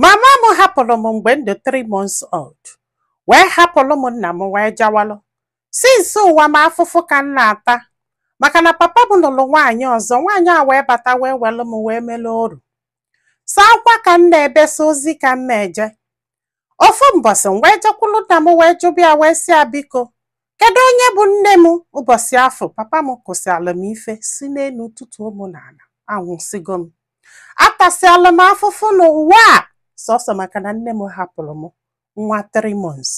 Mama m hapụrụ m mgbe m dị 3 months old wee hapụrụ m nna m wee jawalụ. Since ụwa m afụfụ ka m na-ata maka na papa m lụrụ nwaanyị ọzọ nwaanyị a wee bata wee welụ m wee mele oru. Sọ akwa ka m na-ebe sọ ozi ka m na-eje. Ofu mbọsị m wee jekwulu nna m wee jụba ya wee sị ya biko kedu onye bụ nne m ụbọsị afụ papa m kụsịalụ m ife si n'elu tụtuo m n'ala anwụsịgo m. atasịalụ m afụfụ n'ụwa a sọsọ maka na nne m hapụrụ m nwa 3 months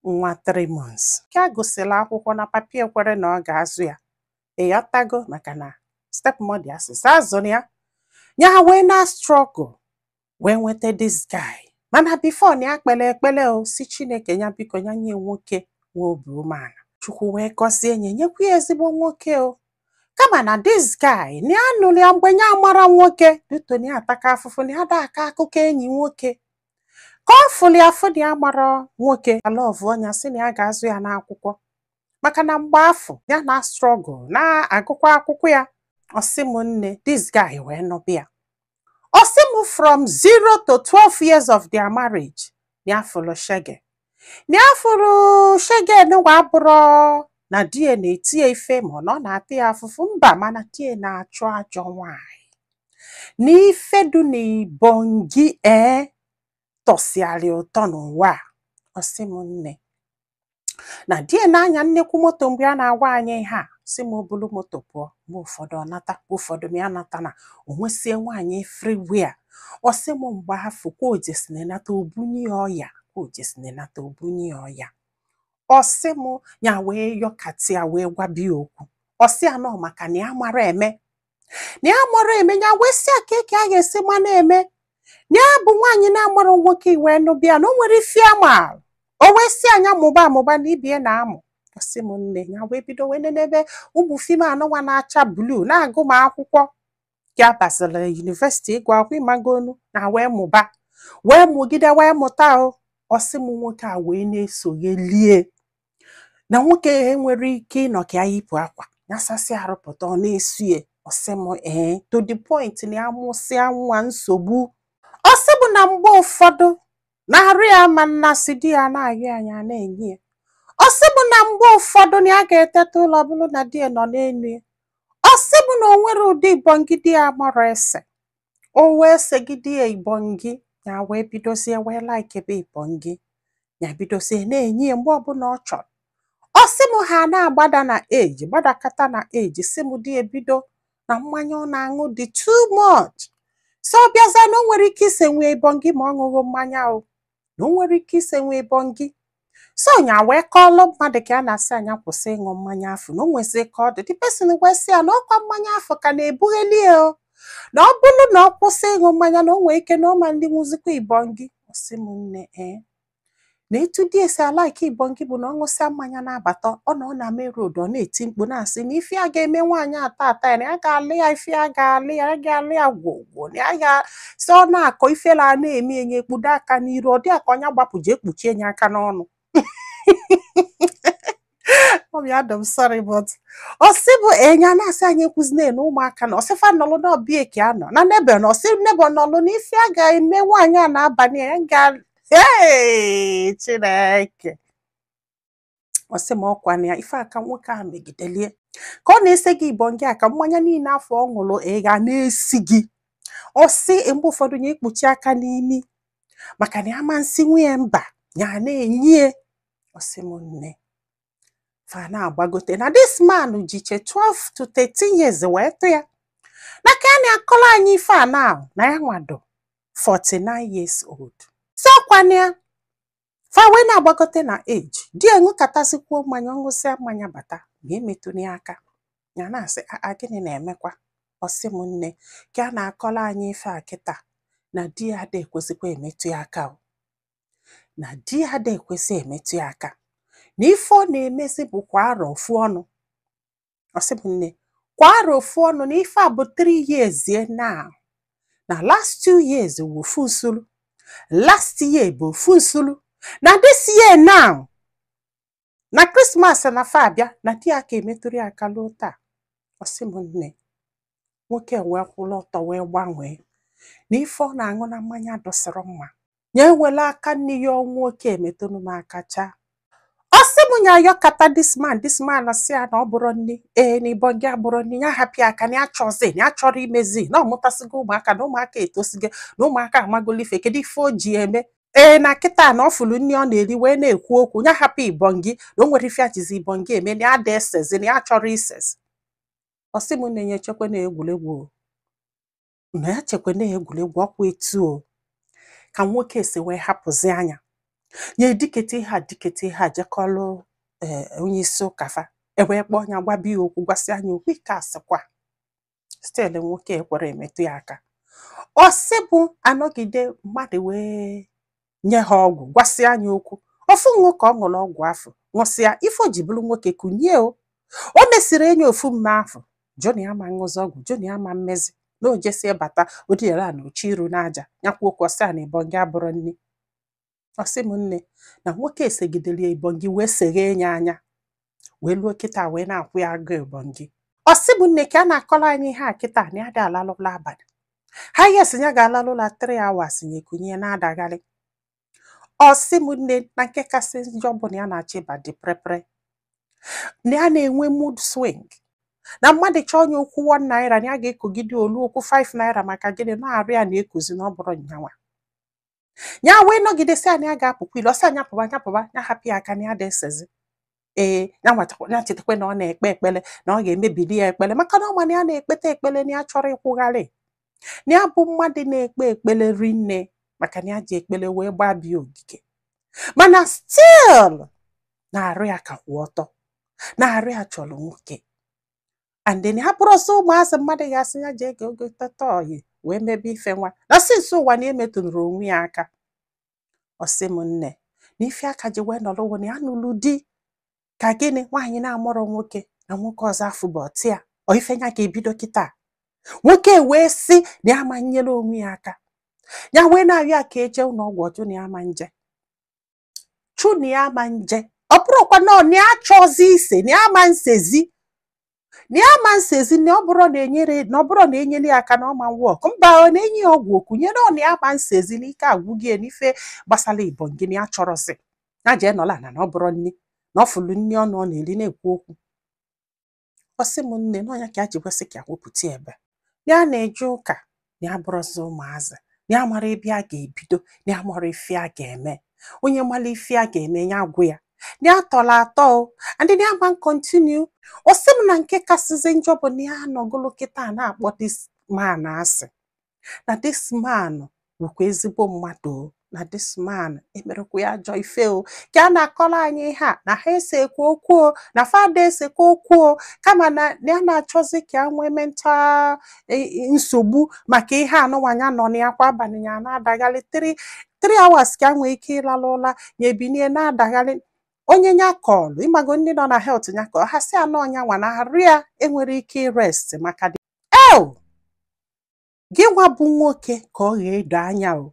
nwa 3 months ka ya gụsịrị akwụkwọ na papa ya ekwerọ na ọ ga-azụ ya ịghọtago maka na stepmother ya sị ya azụla ya ya wee na struggle wee nweta this guy mana before na ya kpere ekpere o sị chineke ya biko ya nye ya nwoke nwe obi umeala chukwu wee gọzie ya nyekwa ya ezigbo nwoke o kama na this guy na ya nụrụ ya mgbe ya amarọ nwoke due to na ya ataka afụfụ na ya adaa akọ akụkọ enyi nwoke ka ọ fụrụ ya fụ na ya amarọ nwoke ọ lọvụọ nya sị na ya ga-azụ ya n'akwụkwọ maka na mgbe afụ ya na struggle na-agụkwa akwụkwọ ya ọ sị m nne this guy wee nụba ya ọ sị m from zero to 12 years of their marriage na ya fụrụ shege na ya fụrụ shege na ọ bụrọ na di ya na-eti ya ife ma ọ na ọ na-ata ya afụfụ mba mana di ya na-achụ ajọ nwanyị na ife dị na ibongi ee tọsịalụ ya ụtọ n'ụwa a ọ sị m nne na di ya na-anya nnekwu moto mgbe a na-agwa anyị ihe a ọ sị m o bulu moto pụọ mgbe ụfọdụ ọ nata mgbe ụfọdụ ọ ma nata na o nwesie nwaanyị everywhere ọ sị m mgbe afụ kwa o jesine nata o bunye ya ọya kwa o jesine nata o bunye ya ọya ọ sị m ya wee yọkata ya wee gwaba ya okwu ọ sị ya na ọ maka na ya amarọ eme na ya amarọ eme ya wee sị ya kee ka ya ga-esi ma na-eme na ya bụ nwaanyị na-amarọ nwoke i wee nụba ya na o nwerọ ife ya ma o wee sị ya nya mụba amụba na ibe ya na-amụ ọ sị m nne ya wee bido wee nenebe ụmụ film anụnwa na-acha blue na-agụ m akwụkwọ ka ya basịrị university ịgụ akwụkwọ ị magonu ya wee mụba wee mụgide wee mụta o ọ sị m nwoke a wee na-esoghe lie na nwoke a nwere ike ịnọ ka ya yipụ akwa nya sasịa arụ pụta ọ na-eso ya ọ sị m ee to the point na ya mụsịa nwa nsogbu ọ sị m na mgbe ụfọdụ na arụ ya ama nasị di ya na-ayọ ya nya na-enye ya ọ sị m na mgbe ụfọdụ na ya ga-eteta ụla ọ bụrụ na di ya nọ n'elu ya ọ sị m na o nwerọ ụdị ibongi di ya amarọ ese o wee segide ya ibongi nya wee bidozie wee laikebe ibongi ya bidozie na-enye ya mgbe ọbụla ọ chọrọ ọ sị m ha na-agbada na age gbadakata na age sị m di ebido na mmanya ọ na-aṅụ dị too much so ọ bịazịa na o nwerọ ike isenwu ibongi ma ọ ṅụrọ mmanya o na o nwerọ ike isenwu ibongi so nya wee kọọlụ mmadụ ka ya na-asị ya nya kwụsị ịṅụ mmanya afụ na o nwezi ka ọ dị the person wee sị ya na ọkwa mmanya afụ ka na-ebugheli ya o na ọ bụrụ na ọ kwụsị ịṅụ mmanya na o nwee ike na ọ ma-esenwuzikwa ibongi ọ sị m nne ee na etu di ya si alaiki ibongi bụ na ọ ṅụsịa mmanya na-abata ọ nọ na main road ọ na-eti mkpu na-asị na ife ya ga-eme nwaanyị a taa taa na ya ga-ala ya ife ya ga-ala ya ya ga-ala ya gwogwo na ya ga so ọ na-akọ ifele ana-eme nya ekpudo aka n'iru ọ dị ya ka nya gbapụ jee kpuchie nya aka n'ọnụ oh my God I'm sorry but ọ sị bụ nya ana-asị ya nya ekwuzine na ụmụaka nọ ọ sị fa nọlụ na ọbịa ka nọ na neighbour nọ ọ sị neighbour nọlụ na ife ya ga-eme nwaanyị a n'abalị a ga Hey, Chineke ọ sị m ọkwa na ya ife a ka nwoke a megidelie ka ọ na-ese gị ibongi a ka mmanya niile afụ ọ ṅụrụ ga na-esi gị ọ sị mgbe ụfọdụ nya ekpuchi aka n'imi maka na ya ama-asịnwu ya mba nya na-enye ya ọ sị m nne fa na-agbagote na this man jicha 12 to 13 years wee tọọ ya na ka a na-akọrọ anyị ife a na na ya nwa dị 49 years old so ọkwa na ya fa wee na-agbagote na age di ya aṅụkatazikwuo mmanya ọ ṅụsịa mmanya bata ma emetụ nya aka ya na-asị ya gịnị na-emekwa ọ sị m nne ka a na-akọrọ anyị ife a kịta na di ya ada ekwezikwa emetụ ya aka o na di ya ada ekwezi emetụ ya aka na ife ọ na-emezi bụ kwa arọ ofu ọnụ ọ sị m nne kwa arọ ofu ọnụ na ife a bụ 3 years now na last 2 years bụ ofu nsulu last year bụ ofu nsulu na this year now na Christmas na fa abịa na di ya ka emetụrọ ya aka luo taa ọ sị m nne nwoke wee kwụrụ ọtọ wee gbanwee na ife ọ na-aṅụ na mmanya dịsịrị mma nya ewele aka nni ya nwoke emetụnụ m aka chaa ọ sị m nya ayọkata this man this man sị ya na ọ bụrọ nni ee na ibongi abụrọ nni ya hapụ ya aka na ya achọzị na ya achọrọ imezi na ọ mụtasịgo ụmụaka na ụmụaka etosigo na ụmụaka amagolo ife kedu ife o ji eme ee na kịta na ọ fụlụ nni ọ na-eri wee na-ekwu okwu ya hapụ ibongi na o nwerọ ife ya jizi ibongi eme na ya ada esezi na ya achọrọ isezi ọ sị m na nya chekwa na egwuregwu o. na ya chekwe na egwuregwu ọkwa etu o ka nwoke si wee hapụzia nya nya diketa ihe a diketa ihe a jekwulu ee onye isi ụka fa ewee kpọọ nya gwaba ya okwu gwasịa nya okwu ike asịkwa still nwoke ekwerọ emetụ ya aka ọ sị bụ anọgide mmadụ wee nye ha ọgwụ gwasịa nya okwu ofu nwoke ọ ṅụrụ ọgwụ afụ ṅụsịa ife o ji bụrụ nwoke kunie o o mesịrị nya ofu mme afụ jụ na ya ma ṅụzi ọgwụ jụ na ya ma mmezi na o jesịa bata o dinara ana o chee iru n'aja nya kwuo okwu ọ sị ya na ibongi abụrọ nni ọ sị m nne na nwoke esegidere ibongi wee seghee ya anya wee luo kịta wee na-akwụ ya agụ ibongi ọ sị m nne ka a na-akọrọ anyị ihe a kịta na ya adị alalụ ụla abalị highest ya ga-alalụ ụla 3 hours nya ekunie na-adagharị ọ sị m nne na nke kasị njọ bụ na ya na-achọ ịba dị prepre na ya na-enwe mood swing na mmadụ chọọ nya okwu 1 naira na ya ga-ekwugide olu okwu 5 naira maka gịnị na arụ ya na-ekwuzi na ọ bụrọ nya nwa ya wee nọgide sị ya na ya ga-apụkwa ilo ọ sị nya pụba nya pụba ya hapụ ya aka na ya adị esezi ee ya chetakwa na ọ na-ekpe ekpere na ọ ga-emebili ya ekpere maka na ọ ma na ya na-ekpeta ekpere na ya chọrọ ịkwụgharị na ya bụ mmadụ na-ekpe ekpere rinne maka na ya ji ekpere wee gbaa bịa ogige mana still na arụ ya ka kwụ ọtọ na arụ ya chọrọ nwoke and then ya abụrọzi ụmụazị mmadụ ga-asị ya jee ga gote toy wee mebe ife nwa na since ụwa na ya emetụnụrọ onwe ya aka ọ sị m nne na ife ya ka ji wee nọrọ bụ na ya nụlụ di ka gịnị nwaanyị na-amarọ nwoke na nwoke ọzọ afụbe ọtọ ya ọ ife ya ga-ebido kịta nwoke wee sị na ya ma nyere onwe ya aka ya wee na-arịọ ya ka e jee ụlọ ọgwụ ọ jụ na ya ma nje jụ na ya ma nje ọ bụrọkwanụ na ya chọzi ise na ya ma nsezi na ya ma nsezi na ọ bụrọ na enyere na ọ bụrọ na enyere ya aka na ọ ma work mba ọ na e nye ya ọgwụ o kunie ọ na ya ma nsezi na ike agwụgo ya n'ife gbasara ibongi na ya achọrọzi nya jee nọlụ ana na ọ bụrọ nni na ọ fụlụ nni ọ nọ na-eri na-ekwu okwu ọ sị m nne na ọ nya ka ya ji wee sị ka ya wepụta ebe ya na-eje ụka na ya abụrọzi ụmụazị na ya amarọ ebe a ga-ebido na ya amarọ ife a ga-eme onye mara ife a ga-eme ya gwa ya na ya tọrọ atọ o and na ya ma continue ọ sị m na nke kasịzi njọ bụ na ya anọgolo kịta na-akpọ this man asị na this man bụkwa ezigbo mmadụ o na this man emerọkwa ya ajọ ife o ka a na-akọrọ anyị ihe a na ha esekwa okwu o na fa adị esekwa okwu o kama na ya na-achọzi ka ya nwee mental eh, nsogbu maka ihe a nwa nya nọ na ya kwa abalị ya na-adagharị three hours ka ya nwee ike ịlala ụla ya ebinie na-adagharị onye nya kọlụ ị mago ndị nọ na health nya kọlụ ha sị ya na ọ nya nwa na arụ ya enwerọ ike irest maka ew gị nwa bụ nwoke ka ọ ga-edo anya o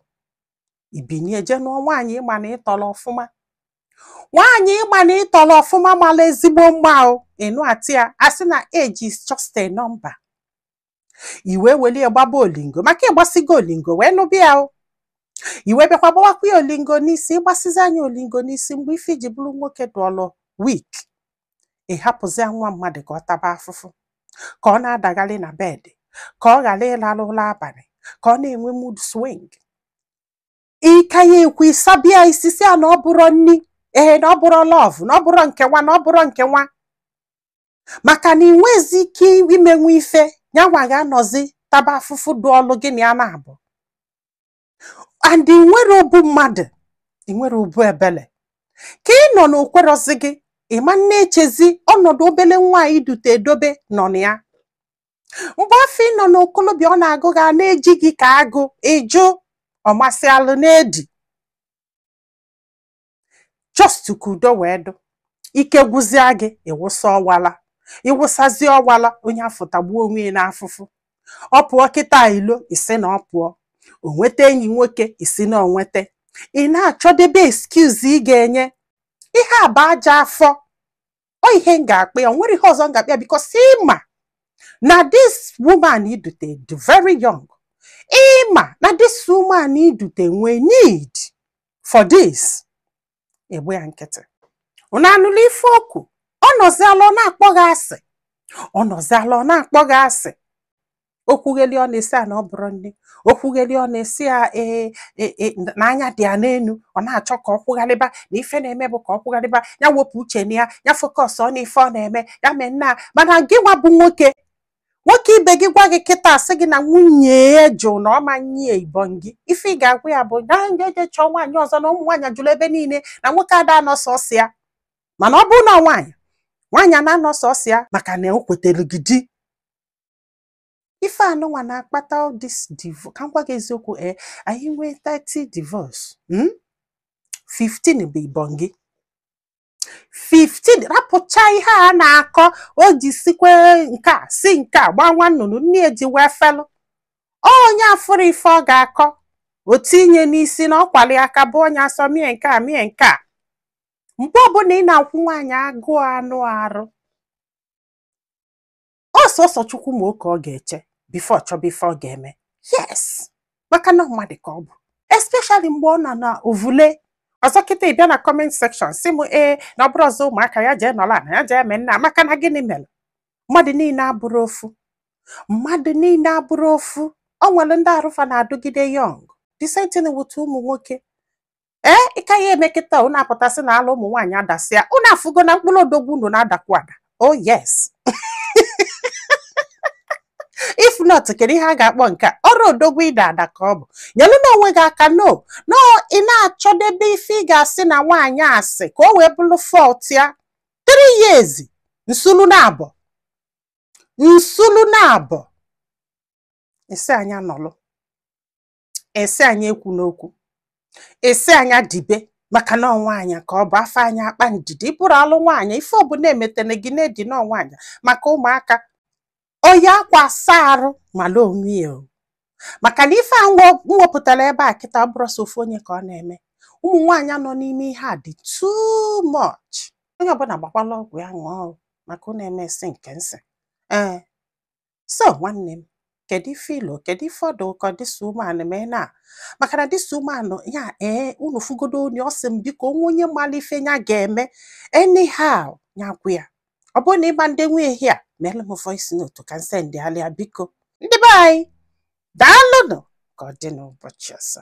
ibinie je nụọ nwaanyị ịma na ịtọrọ ọfụma nwaanyị ịma na ịtọrọ ọfụma mara ezigbo mma o ịnụ atị ya asị na age is just a number iwe welie gbaba olingo maka ịgbasigo olingo wee nụbịa ya o iwe bịakwa gbawakwa ya olingo n'isi ịgbasizi anya olingo n'isi mgbe ife iji bụrụ nwoke dụọlụ weak ị hapụzịa nwa mmadụ ka ọ taba afụfụ ka ọ na-adagharị na bed ka ọ ghara ịlalụ ụla abalị ka ọ na-enwe mood swing ịka ya ekwu ịsabịa isi si ya na ọ bụrọ nni ee na ọ bụrọ love na ọ bụrọ nke nwa na ọ bụrọ nke nwa maka na ị nwezi ike imenwe ife ya nwa ga-anọzi taba afụfụ dụ ọlụ gị na ya na-abụ and ị nwere obu mmadụ ị nwere obu ebele ka ị nọ na o kwerọzi gị ịma na-echezi ọnọdụ obele nwaanyị idute edobe nọ na ya mgbe afụ ị nọ n'okolobịa ọ na-agụ gị a na-eji gị ka agụ ịjụ ọ masị alụ na-edi just ka udo wee dụ ike gwụzịa gị ịwụsa ọwala ịwụsazi ọwala onye afụ tagbuo onwe ya n'afụfụ ọ pụọ kịta ilo isi na ọ pụọ o nweta enyi nwoke isi na o nwete ị na-achọdebe excuse ị ga-enye ihe a bụ ajọ afọ ọ ihe m ga-akpọ ya o nwere ihe ọzọ m ga-akpọ ya because ịma na this woman idute dị very young ịma na this woman idute nwee need for this ị gba ya nkịtị unu anụla ife okwu ọ nọzi ala ọ na-akpọ gị asị ọ nọzi ala ọ na-akpọ gị asị okwugheli ọ na-esi a na ọ bụrọ nni okwugheli ọ na-esi ya ee e, e, na anya dị ya n'elu ọ na-achọ ka ọ kwụgharịba na ife na-eme bụ ka ọ kwụgharịba ya wepụ uche na ya ya focus ọ na ife ọ na-eme ya mee nna mana gị nwa bụ nwoke nwoke ibe gị gwa gị kịta sị gị na nwunye ya jụ na ọma nye ya ibọn gị ife ị ga-agwa ya bụ na nya je chọọ nwaanyị ọzọ na ụmụ nwaanyị jụrụ ebe niile na nwoke ada anọ sọsọ ya mana ọ bụrụ na nwaanyị nwaanyị a na-anọ sọsọ ya maka na o kwetere gị di ife anụnwa na-akpata all this divorce ka m gwa gị eziokwu ee anyị nwee 30 divorce hmm? 15 bụ ibọn gị 15 rapụcha ihe a na-akọ o ji sikwe nke a si nke a gbaa nwa nnụnụ nne ya ji wee felụ Ọ onye afụrụ ife ọ ga-akọ o tinye n'isi na ọ kwali aka bụ onye asọ mie nke a mie nke a mgbe ọbụla ị na-akwụ nwaanyị agụụ anụ arụ ọ sọsọ chukwu ma oke ọ ga-eche before ọ chọba ife ọ ga-eme yes maka na mmadụ ka ọ bụ especially mgbe ọ nọ na ovulation kịta ị bịa na comment section sị m ee na ọ bụrụ ọzọ ụmụaka ya jee nọla na ya jee eme nna maka na gịnị mere mmadụ niile abụrọ ofu mmadụ niile abụrọ ofu ọ nwere ndị arụ fa na-adịgide young the same thing with ụmụ nwoke ee ị ka ya eme kịta unu apụta sị na ala ụmụ nwaanyị adasịa unu afụgo na mkpụrụ odogwu unu na-adakwu ada oh yes if not kedu ihe a ga-akpọ nke a? ọ bụrọ odogwu ịda ada ka ọ bụ nyelu na onwe gị aka no no ị na-achọdebe ife ị ga-asị na nwaanyị asị ka o wee bụrụ fault ya three years nsulu na abụọ nsulu na abụọ isi anya nọlụ esi anya ekwuna okwu esi anya dibe maka na ọ nwaanyị ka ọ bụ afa nya akpa ndidi ịbụrụ alụ nwaanyị ife ọbụla e mete nne gị na-edi na ọ nwaanyị maka ụmụaka oyi akwa asa arụ mala onwe ya o. maka na ife a m wepụtara ebe a kịta ọ bụrọ sọ ofu onye ka ọ na-eme ụmụ nwaanyị nọ n'ime ihe a dị too much onye ọbụla gbakwala ọgwụ ya ṅụọ o, maka ụna emesi nke nsị ee so nwanne m kedu ife i lo kedu ife ọ dụ ka this woman nụ mee na maka na this woman nụ ya ee unu fụgodo onye ọ sị m biko o nwe onye mara ife ya ga-eme anyhow ya gwa ya ọ bụrụ na ị ma ndị nwe ihe a meelụ m voice note ka m sendịalị ya biko ndị be anyị daalụnụ ka ọ dị n'ụbọchị ọzọ